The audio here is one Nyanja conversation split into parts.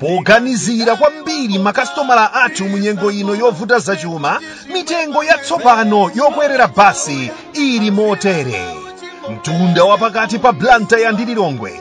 poganizira kwambiri makasitomala athu mu nyengo ino yovuta zachuma mitengo yatsopano yokwerera basi ili motere mtunda wapakati pa blantyre ndi lilongwe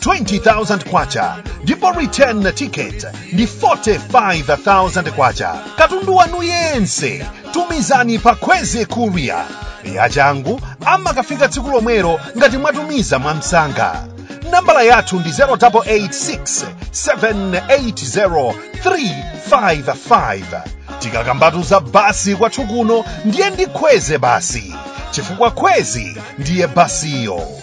20,000 kwacha ndipo return ticket ndi 45,000 kwacha katundu wanu yense tumizani pa kwezy courier yachangu amakafika tsiku lomwelo ngati mwatumiza mwamsanga nambala yathu ndi 0886 780 355 tikakambatu za basi kwathu kuno ndiye ndi kwezy basi chifukwa kwezy ndiye basiyo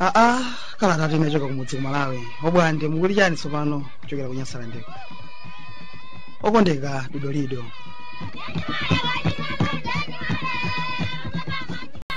aa kalatatu inachoka kumudzi kumalawi obwande mukuli chani tsopano kuchokera ku nyasalandeko okondeka didolido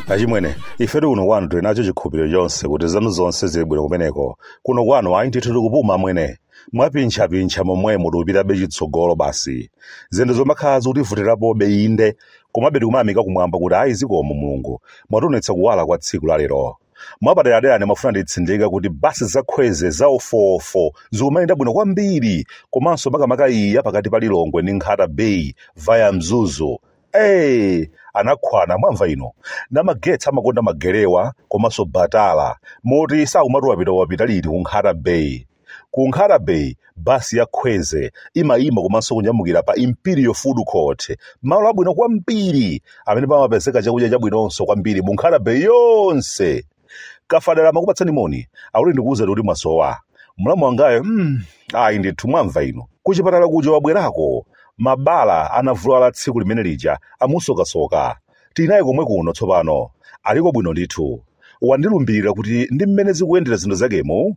achimwene ifetu kuno kwanu tili nacho chikhulupiriro chonse kuti zanu zonse zili bwino kumeneko kuno kwanu ayi ndithu tikupuma mwene mwapintchapintcha momwemo tikupitabe chitsogolo basi zinthu zomakhala zikutivutirapobe inde komabe tikumayamika kumwamba kuti ayi zikomo mulungu mwationetsa kuwala kwa tsiku la lero mwapaderadera ndimafuna nditsindika kuti basi za kwezy za ofoofo zikumayenda bwino kwambiri komanso makamaka iyi ya pakati pa lilongwe ndi nkhata bay via mzuzu ee, anakhwana mwamva inu namagetsi amakonda magerewa komanso batala moti sakumati wapita wapita liti kunkhata bay Ku Nkhata Bay, basi ya Kwezy imayima komanso kunyamukira pa Imperial Food Court, malo abwino kwambiri amene pamapezeka chakudya chabwinonso kwambiri mu Nkhata Bay yonse. Kafadala amakupatsani moni, akuti ndikuwuzeni kuti mwasowa. Mlamu wangayo, mm, ayi ndithu mwamva inu. Kuchipatala kuja wabwerako, mabala anavulala tsiku limene lija amusokasoka. Tili naye komwe kuno tsopano, aliko bwino ndithu. Wandilumbirira kuti ndi mmene zikuyendera zinthu zakemu,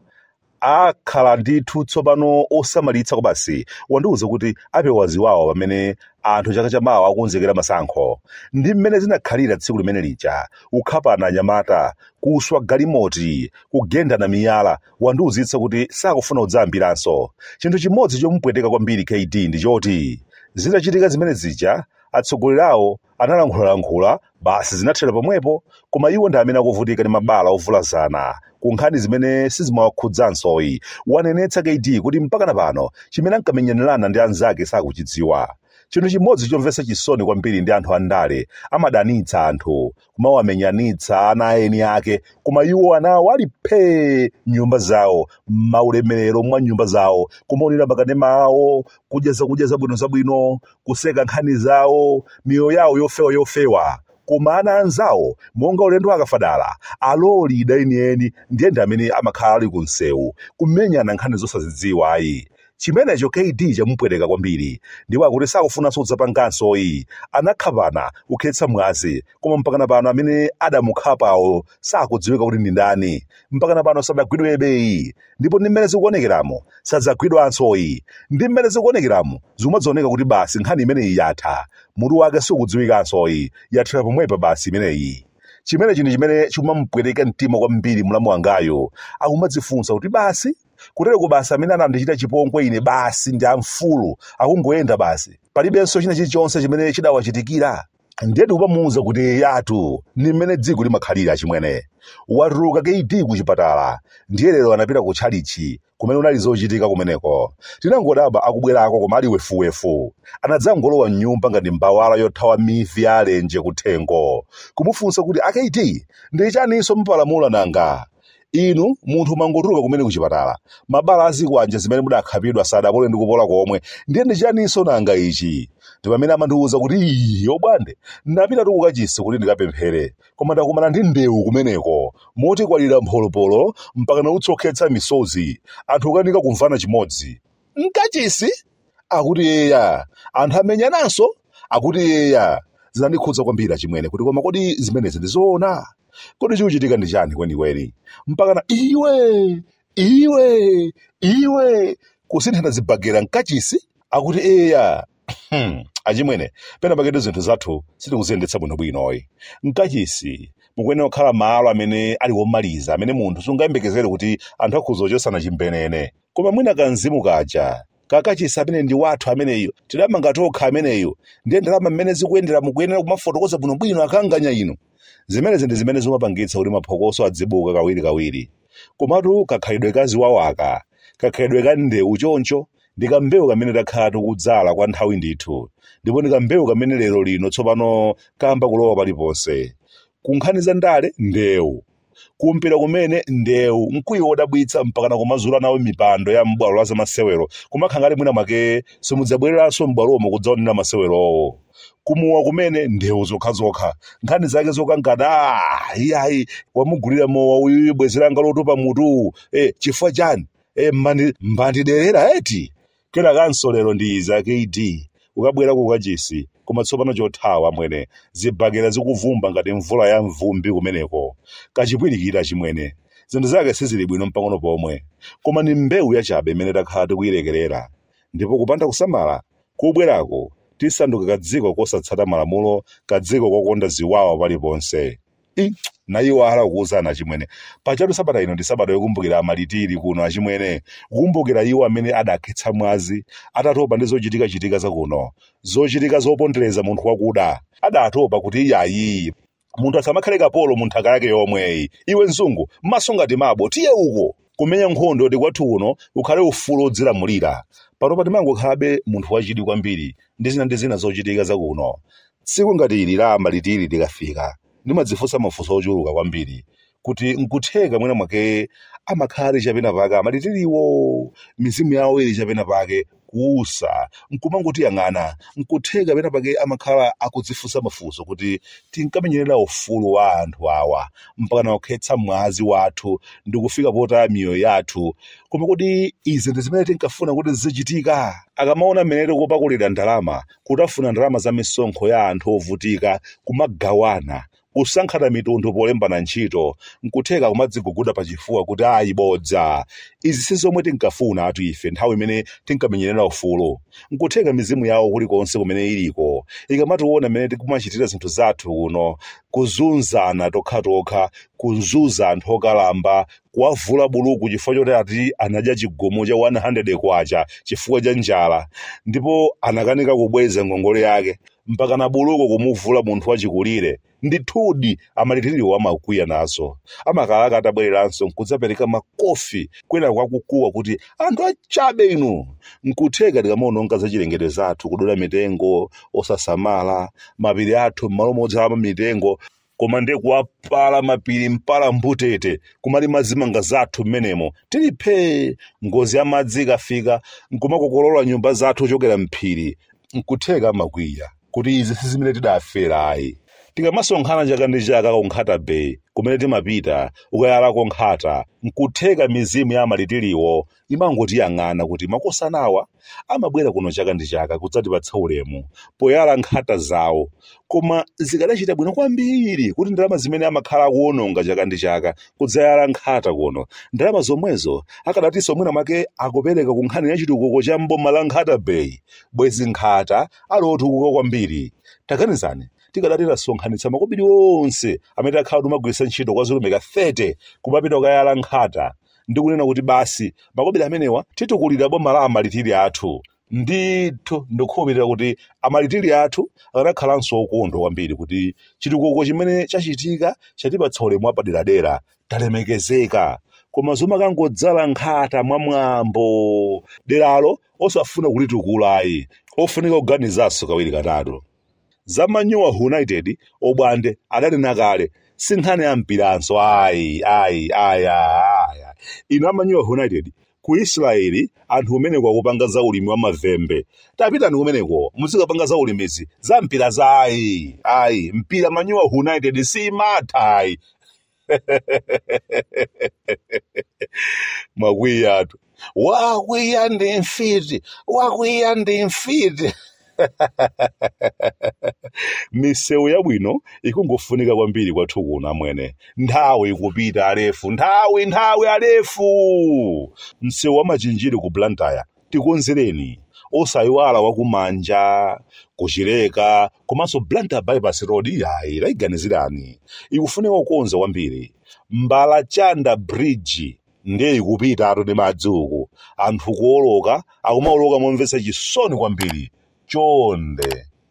akhala ndithu tsopano osamalitsa kwabasi wandiuza kuti apewa ziwawa pamene anthu chaka chamawa akukonzekera masankho ndi mmene zinakhalira tsiku limene lija ukhapana anyamata kuswa galimoti kugendana miyala wandiuzitsa kuti sakufuna kudzayambiranso chinthu chimodzi chomupweteka kwambiri kd ndi choti zitachitika zimene zija atsogoleri awo Analankhulalankhula, basi zinathera pomwepo, koma iwo ndi amene akuvutika ndi mabala ovulazana ku nkhani zimene sizimawakhudzansoyi, wanenetsa KD kuti mpakana pano chimene ankamenyanirana ndi anzake sakuchidziwa. Chinthu chimodzi chomvetsa chisoni kwambiri ndi anthu andale, amadanitsa anthu, kumawamenyanitsa ana a eni ake, koma iwo ana awo ali phee m'nyumba zawo, m'maulemerero mwa nyumba zawo, kumaonera makanema awo, kudya zakudya zabwinozabwino, kuseka nkhani zawo miyoyo yawo yofewa yofewa koma ana anzawo monga ulendo akafadala alolida enieni ndiye ndi amene amakhala ali ku msewu kumenyana nkhani zosazidziwa ayi chimenecho kd chamupweteka kwambiri ndipo akuti sakufunanso kudzapangansoyi anamukhapa kukhetsa mwazi koma mpakana pano amene adamukhapawo sakudziwika kuti ndi ndani mpakana pano sadagwidwebeyi ndipo ndi mmene zikuonekeramu sadzagwidwansoyi ndi mmene zikuonekeramu zikumadzaoneka kuti basi nkhani imeneyi yatha mutu wake sukudziwikansoyi yathera pomwepa basi imeneyi chimene chinthu chimene chikumamupweteka mtima kwambiri mlamu wangayo akumadzifunsa kuti basi kutereko basi amene anandichita chipongwe ine basi ndi amfulu akungoyenda basi palibenso china chilichonse chimene chidawachitikira ndiye ndikumamuuza kuti yatu ni mmene dziko limakhalira achimwene watuluka kd ku chipatala ndiye lero anapita ku tchalichi kumene kunali zochitika kumeneko tinangodabwa akubwerako koma ali wefuwefu anadzangolowa mnyumba ngati mbawala yothawa mivi ya alenje kuthengo kumufunsa kuti akd ndi chaninso mwapalamula nanga inu munthu mwangotuluka kumene kuchipatala mabala azikwanje zimene mudakhapidwa sadapole ndi kupola komwe ndiye ndi chaninso nanga ichi ndi pamene amandiwuza kuti iyi yobwande ndinapitatu kukachisi kuti ndikapemphere koma ndakumana ndi ndewu kumeneko moti kwalira mpholopolo mpaka na utsi okhetsa misozi anthu kukanika kumvana chimodzi mkachisi akuti eya anthu amenyananso akuti eya zinandikhudza kwambiri achimwene kuti koma kodi zimenezi ndizoona kodi chikuchitika ndi chani kwenikweni mpakana iwe iwe iwe kusinthana zibagera mkachisi akuti eya Hmm, achimwene pena paketu zinthu zathu sitikuziyendetsa bwinobwinoyi mkachisi mukuyenera kukhala malo amene ali omaliza amene munthu sungayembekezere kuti anthu akhoza kuchosana chimbenene koma mwina kamzimu kaja kakachisi amene ndi wathu ameneyo tidamanga tokha ameneyo ndiye ndalama mmene zikuyendera mukuyenera kumafotokoza bwinobwino akanganya inu zimenezi ndi zimene zimapangitsa kuti maphokoso adzibuka kawirikawiri komatu kakhalidwe kaziwawaka kakhalidwe ka ndewu choncho ndi kambewu kamene takhala tikudzala kwa nthawi ndithu ndipo ndi kambewu kamene lero lino tsopano kayamba kulowa paliponse kunkhani za ndale ndewu kumpira kumene ndewu mkwiyo wodabwitsa mpakana kumazula nawo mipando ya m'bwalo la zamasewero kumakhala ngati mwina mwake simudzabwereranso m'bwalomo kudzaonera masewerowo kumowa kumene ndewu zokhazokha nkhani zake zokangana "Ah, iyayi wamugulira mowa uyuyu bwenzi langa lotupa mutu eh, chifukwa chani eh, mwandi- mwandiderera eti Kenakanso lero ndi iza kd kukabwera ku kachisi koma tsopano chothawa amwene zibhakera zikuvumba ngati mvula ya mvumbi kumeneko kachipwirikiti achimwene zinthu zake sizili bwino mpang'ono pomwe koma ndi mbewu yachabe imene takhala tikuyilekerera ndipo kupanda kusamala kubwerako tisanduka kadziko kosatsata malamulo kadziko kokonda ziwawa paliponse. i naiwala kukuwuzani achimwene pajatu sabata ino ndi sabata yokumbukira amalitiri kuno achimwene kukumbukira iwo amene adakhetsa mwazi atatopa ndi zochitika chitika zakuno zochitika zopondereza munthu wakuda adatopa kuti iyayi munthu asamakhale kapolo mu nthaka yake yomweyi iwe mzungu maso ngati mabo tiye uko kumenya nkhondo kuti kwathu kuno kukhale ufulu odzilamulira pano pa ndimangokhalabe munthu wachidwi kwambiri ndi zina ndi zina zochitika zakuno tsiku ngati ili la malitiri likafika ndimadzifunsa mafunso ochuluka kwambiri kuti nkutheka mwina mwake amakhala ali chapena pake amalitiriwo mizimu yawo ili chapena pake kuusa nkumangotiyang'ana nkutheka pena pake amakhala akudzifunsa mafunso kuti tinkamenyerera ufulu wa anthu awa mpaka nakukhetsa mwazi wathu ndikufika potaya miyoyo yathu koma kodi izi ndi zimene tinkafuna kuti zizichitika akamaona mmene tikupakulira ndalama kutafuna ndalama za misonkho ya anthu ovutika kumagawana Kusankhana mitundu polembana ntchito nkutheka kumadziguguda pachifuwa kuti ayi bodza, izi si zomwe tinkafunatu ife nthawi imene tinkamenyerera ufulu. Nkutheka mizimu yawo kulikonse kumene iliko ikamationa mmene tikumachitira zinthu zathu kuno, kuzunzana tokhatokha, kuzunza anthu okalamba, kuwavula buluku chifukwa choti ati anadya chigumu cha K100 chifukwa cha njala ndipo anakanika kubweza ngongole yake, mpaka na buluku kumuvula munthu wachikulire ndithudi amalitiriwo amakwiya nazo amakalaka atabwereranso nkudzapereka makofi kwena akukuwa kuti anthu achabe inu nkutheka tikamaononga zachilengedwe zathu kudula mitengo osasamala mapiri athu m'malo modzalamo mitengo koma ndiye kuwapala mapiri mpala mbutete kumalima zimanga zathu mmenemo tili phee ngozi ya madzi ikafika nkumakokolola nyumba zathu kuchokera mphiri nkutheka amakwiya kuti izi si zimene tidafera ayi tikamasonkhana chaka ndi chaka ku nkhata bay kumene timapita kukayalako nkhata nkutheka mizimu ya amalitiriwo imangotiyang'ana kuti makosanawa amabwera kuno chaka ndi chaka kudzatipatsa ulemu poyala nkhata zawo koma zikadachita bwino kwambiri kuti ndalama zimene amakhala akuwononga chaka ndi chaka kudzayala nkhata kuno ndalama zomwezo akadatinso mwina mwake akupereka ku nkhani ya chitukuko cha mboma la nkhata bay bwezi nkhata ali otukuka kwambiri taganizani tikadati tasonkhanitsa makobiri onse amene takhala tikugwiritsa ntchito kwa zilumika 30 kumapita kukayala nkhata ndikunena kuti basi makobiri amenewa titukulire bomala amalitiri athu ndithu ndikukhulupirira kuti amalitiri athu akanakhalanso okondwa kwambiri kuti chitukuko chimene chachitika chatipatsa ulemu wapaderadera talemekezeka koma zomakangodzala nkhata mwamwambo deralo osafuna kulitukulayi ofunika kuganizanso kawiri katatu Za Manyowa United obwande adanena kale si nkhani ya mpiranso ayi ayi ayi ayi. Inu a Manyowa United ku Israel anthu kumeneko akupanga za ulimi wa mavembe. Tapitani kumeneko muzikapanga za ulimizi za mpira za ayi ayi mpira Manyowa United simatha ayi. wakwiyatu wakwiya ndi mfiti wakwiya ndi mfiti misewu yabwino ikungofunika kwambiri kwathu kuno amwene nthawi ikupita alefu nthawi nthawi alefu msewu wa Machinjiri ku Blantyre tikonzereni osayiwala wakumanja ku Chileka komanso Blantyre bypass road iyayi tayiganizirani ikufunika kukonza kwambiri Mbalachanda bridge ndiye ikupitatu ndi madzi uku anthu kuoloka akumaoloka momvetsa chisoni kwambiri chonde